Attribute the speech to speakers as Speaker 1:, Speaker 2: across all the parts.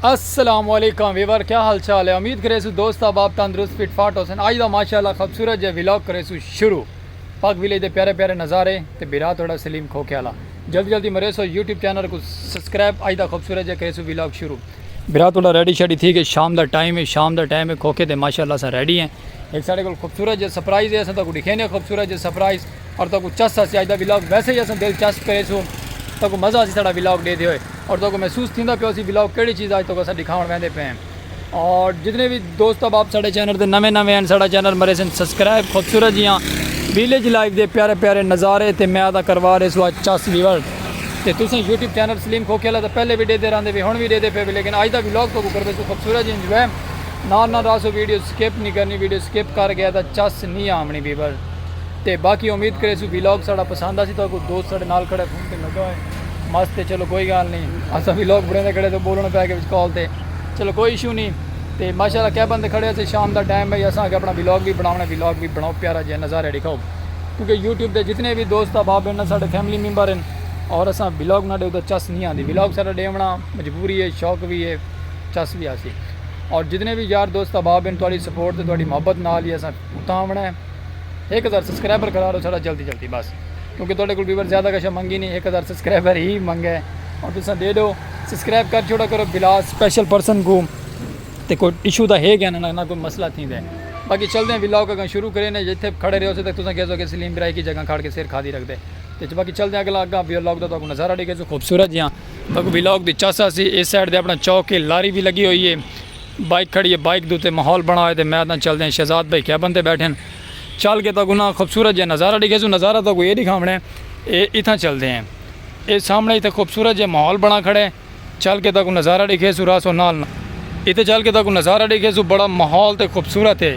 Speaker 1: السلام علیکم ویور کیا حال چال ہے امید کرے سو دوست احباب تندرست فٹ فاٹ ہوسن اج دا ماشاءاللہ خوبصورت جے ویلاگ کرے سو شروع پاک ویلے دے پیارے پیارے نظارے تے بیرا تھوڑا سلیم کھوکے والا جلدی جلدی مریسو یوٹیوب چینل کو سبسکرائب اج دا خوبصورت جے کریسو ویلاگ شروع برا تہاڈا ریڈی شیڈی تھی گئے شام دا ٹائم ہے شام دا ٹائم ہے کھوکھے تے ماشاءاللہ اساں ریڈی ہیں ایک ساڈے کول خوبصورت جے سرپرائز ہے اساں تہاکو ڈکھینے خوبصورت جے سرپرائز اور تہاکو چس اسی اج دا ویلاگ ویسے ہی اساں دلچسپ کریسو تہاکو مزہ اسی ساڈا ویلاگ ڈیدے ہوئے اور تہاکو محسوس تھیندا پیو اسی ویلاگ کیڑی چیز اج تہاکو اساں ڈکھاون ویندے پئے ہیں۔ اور جتنے بھی دوست اب آپ ساڑھے چینل دے نویں نویں ہیں ساڑھا چینل مرے سن سبسکرائب خوبصورت جی ہاں ویلیج لائف دے پیارے پیارے نظارے تے میں آدھا کروا رہے سوا چاس ویور تے تو سن یوٹیوب چینل سلیم کھو کھیلا تھا پہلے بھی دے دے راندے بھی ہون بھی دے دے پھے بھی لیکن آج دا ویلوگ تو کو کروے سو خوبصورت جی انجوے نا نا راسو ویڈیو سکیپ نہیں کرنی ویڈیو سکیپ کر گیا تھا چاس نہیں آمنی بیور تے باقی امید کرے سو ویلوگ ساڑھا پسند آسی تو کو دوست ساڑھے نال کھڑے تے لگا ہوئے مست تے چلو کوئی گال نہیں اسا بھی لوگ بڑے دے کھڑے تو بولن پے کے وچ کال تے چلو کوئی ایشو نہیں تے ماشاءاللہ کیا بندے کھڑے سے شام دا ٹائم ہے اسا کے اپنا ولاگ بھی بناونا ولاگ بھی بناؤ پیارا جے نظارے دکھاؤ کیونکہ یوٹیوب دے جتنے بھی دوست احباب ہیں نا ساڈے فیملی ممبر ہیں اور اسا ولاگ نہ دے تو چس نہیں آندی ولاگ سارا دیونا مجبوری ہے شوق بھی ہے چس بھی آسی اور جتنے بھی یار دوست احباب ہیں تواڈی سپورٹ تے تواڈی محبت نال ہی اسا اتاں آونا ہے ایک ہزار سبسکرائبر کرا لو ساڈا جلدی جلدی بس کیونکہ تہاڈے کول ویور زیادہ کشا منگی نی ہک ہزار سبسکرائبر ہی منگے ہن تساں دے ڈیو سبسکرائب کر چھوڑا کرو بلا سپیشل پرسن کوں تے کوئی ایشو دا ہے گیاں نہ کوئی مسئلہ تھیندے باقی چلدے ہیں ولاگ اگاں شروع کرے نے جتھے کھڑے رہو سے تک تساں کہہ سو کہ سلیم برا ایک ہی جگہ کھڑ کے سر کھادی رکھ دے تے باقی چلدے ہیں اگلا اگاں ولاگ دا تہاکوں نظارہ ڈیکھے سو خوبصورت جیاں تہاکوں ولاگ دی چاسا سی اس سائیڈ تے اپنا چوک ہے لاری بھی لگی ہوئی ہے بائیک کھڑی اے بائیک دے اتے ماحول بنڑا ہوئے تے میں تاں چلدیاں شہزاد بھائی کیبن تے بیٹھے ہن چل کے تاں کو نہ خوبصورت جیہا نظارہ ڈیکھیسوں نظارہ تاں کو اے ڈیکھاونڑے اے اتھاں چلدے ہیں اے سامنڑے اتھے خوبصورت جیہا ماحول بنڑا کھڑے چل کے تاں کو نظارہ ڈیکھیسوں رہسوں نال نال۔ اتھے چل کے تاں کو نظارہ ڈیکھیسوں بڑا ماحول تے خوبصورت اے۔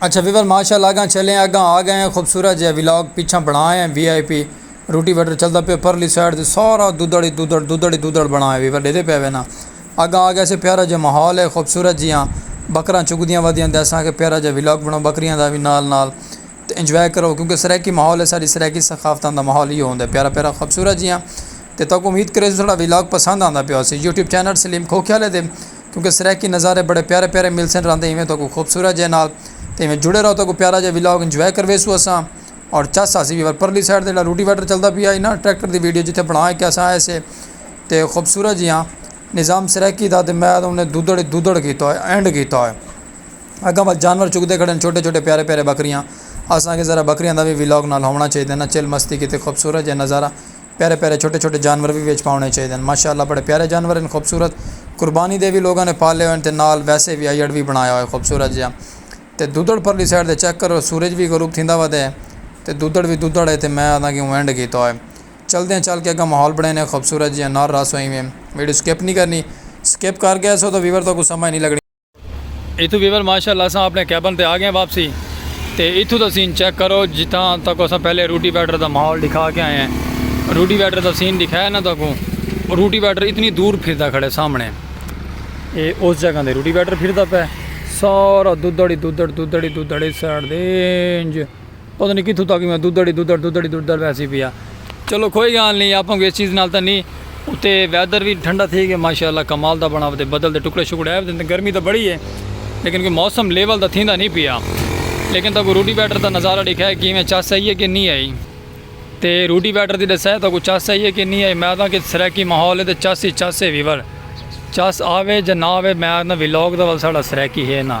Speaker 1: اچھا ویور ماشاء اللہ اگاں چلیں اگاں آ گئے ہیں خوبصورت جیہا ولاگ پیچھاں بنڑائے ہیں وی آئی پی روٹی وٹر چلدا پیا پرلی سائیڈ تے سارا دودڑ ہی دودڑ دودڑ ہی دودڑ بنڑائے ہیں ویور ڈیدھے پے وے نا اگاں آ گئے سے پیارا جیہا ماحول ہے خوبصورت جیہاں بکراں چگدیاں ودیاں تے اساں آکھیا پیارا جیہا ولاگ بنڑاؤ بکریاں دا وی نال نال تے انجوائے کرو کیونکہ سرائیکی ماحول ہے ساڈی سرائیکی ثقافتاں دا ماحول ایہو ہوندا ہے پیارا پیارا خوبصورت جیہاں تے تہاکوں امید کریسوں ساڈا ولاگ پسند آندا پیا ہوسی یوٹیوب چینل سلیم کھوکھیالے دے کیونکہ سرائیکی نظارے بڑے پیارے پیارے ملسن راندے ایویں تہاکوں خوبصورت جے نال تے ایویں جڑے رہو تہاکوں پیارا جیہا ولاگ انجوائے کرویسوں اساں اور چس آسی وی پر پرلی سائیڈ تے جیہڑا روٹی ویٹر چلدا پیا ہئی نا ٹریکٹر دی ویڈیو جتھے بنا کے اساں آئے سے تے خوبصورت جیہا نظام سرائیکی دا تے میں انہیں دودڑ ای دودڑ کیتا ہوئے اینڈ کیتا ہوئے اگاں ول جانور چگدے کھڑے ہن چھوٹے چھوٹے پیارے پیارے بکریاں اساں آکھیا ذرا بکریاں دا وی ولاگ نال ہوونا چاہیدا نا چل مستی کیتے خوبصورت جیہا نظارہ پیارے پیارے چھوٹے چھوٹے جانور وی وچ پاونے چاہیدے ہن ماشاء اللہ بڑے پیارے جانور ہن خوبصورت قربانی دے وی لوگاں نے پالے ہوئے ہن تے نال ویسے وی ایڈ وی بنایا ہوئے خوبصورت جیہاں تے دودھڑ پرلی سائیڈ تے چیک کرو سورج وی غروب تھیندا وا دے تے دودھڑ وی دودھڑ ہے تے میں آہداں کہ اینڈ کیتا ہوئے چلدے ہیں چل کے اگاں ماحول بنائے نے خوبصورت جیہاں نال رس ہوئیں ویں ویڈیو سکپ نہیں کرنی سکپ کر گئے سو تو ویور تو کو سمجھ نہیں لگنی۔ ایتھوں ویور ماشاء اللہ اساں اپنے کیبن تے آ گئے واپسی تے ایتھوں دا سین چیک کرو جتھاں تک اساں پہلے روٹی ویٹر دا ماحول دکھا کے آئے ہیں روٹی ویٹر دا سین دکھایا نا تاکوں روٹی ویٹر اتنی دور پھردا کھڑے سامنے اے اس جگہ دے روٹی ویٹر پھردا پہ سارا دودڑی دودڑ دودڑی دودڑی سائڈ دے انج پتہ نی کتھوں تک میں ددڑ ہی ددڑ ددڑ ہی ددڑ ویسی پیا چلو کوئی گال نی آپاں کو اس چیز نال تاں نی اتے ویدر وی ٹھنڈا تھی گیا ماشاءاللہ کمال دا بنا ودے بدل دے ٹکڑے شکڑے آئے ودے گرمی تاں بڑی ہے لیکن کوئی موسم لیول دا تھیندا نی پیا لیکن تاں کو روٹی ویٹر دا نظارہ ڈیکھائے کیویں چس آئی ہے کہ نی آئی تے روٹی ویٹر دی ڈسائے تاں کو چس آئی ہے کہ نی آئی میں آدھاں کہ سرائیکی ماحول ہے تے چس ہی چس ہے ویور چس آوے جا نہ آوے میں آدھاں ویلوگ دا ول ساڑا سرائیکی ہے نا۔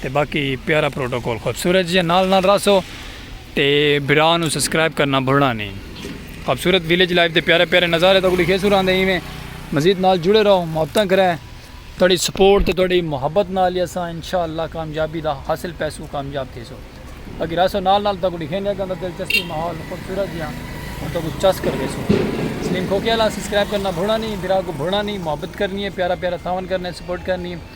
Speaker 1: تے باقی پیارا پروٹوکول خوبصورت جیاں نال نال راسو تے بھرا نو سبسکرائب کرنا بھلنا نی خوبصورت ویلیج لائف دے پیارے پیارے نظارے تاکوں ڈکھیسوں راندے ایویں مزید نال جڑے رہو محبتاں کرے تہاڈی سپورٹ تے تہاڈی محبت نال ہی اساں انشاءاللہ کامیابی دا حاصل پیسوں کامیاب تھیسوں باقی راسو نال نال تاکوں ڈکھیندے اگاں دا دلچسپی ماحول خوبصورت جیاں ہن تاکوں چس کر ویسوں سلیم کھوکے والا سبسکرائب کرنا بھلنا نی بھرا کو بھلنا نی محبت کرنی ہے پیارا پیارا تھاون کرنے سپورٹ کرنی ہے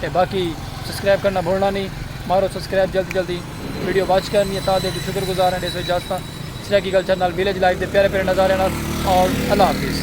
Speaker 1: تے باقی سبسکرائب کرنا بھولنا نی مارو سبسکرائب جلدی جلدی ویڈیو واچ کرنی ہے تاں دے جو شکر گزار ہیں ڈیسو اجازتاں سرائیکی کلچر نال ویلیج لائف دے پیارے پیارے نظاریاں نال اور اللہ حافظ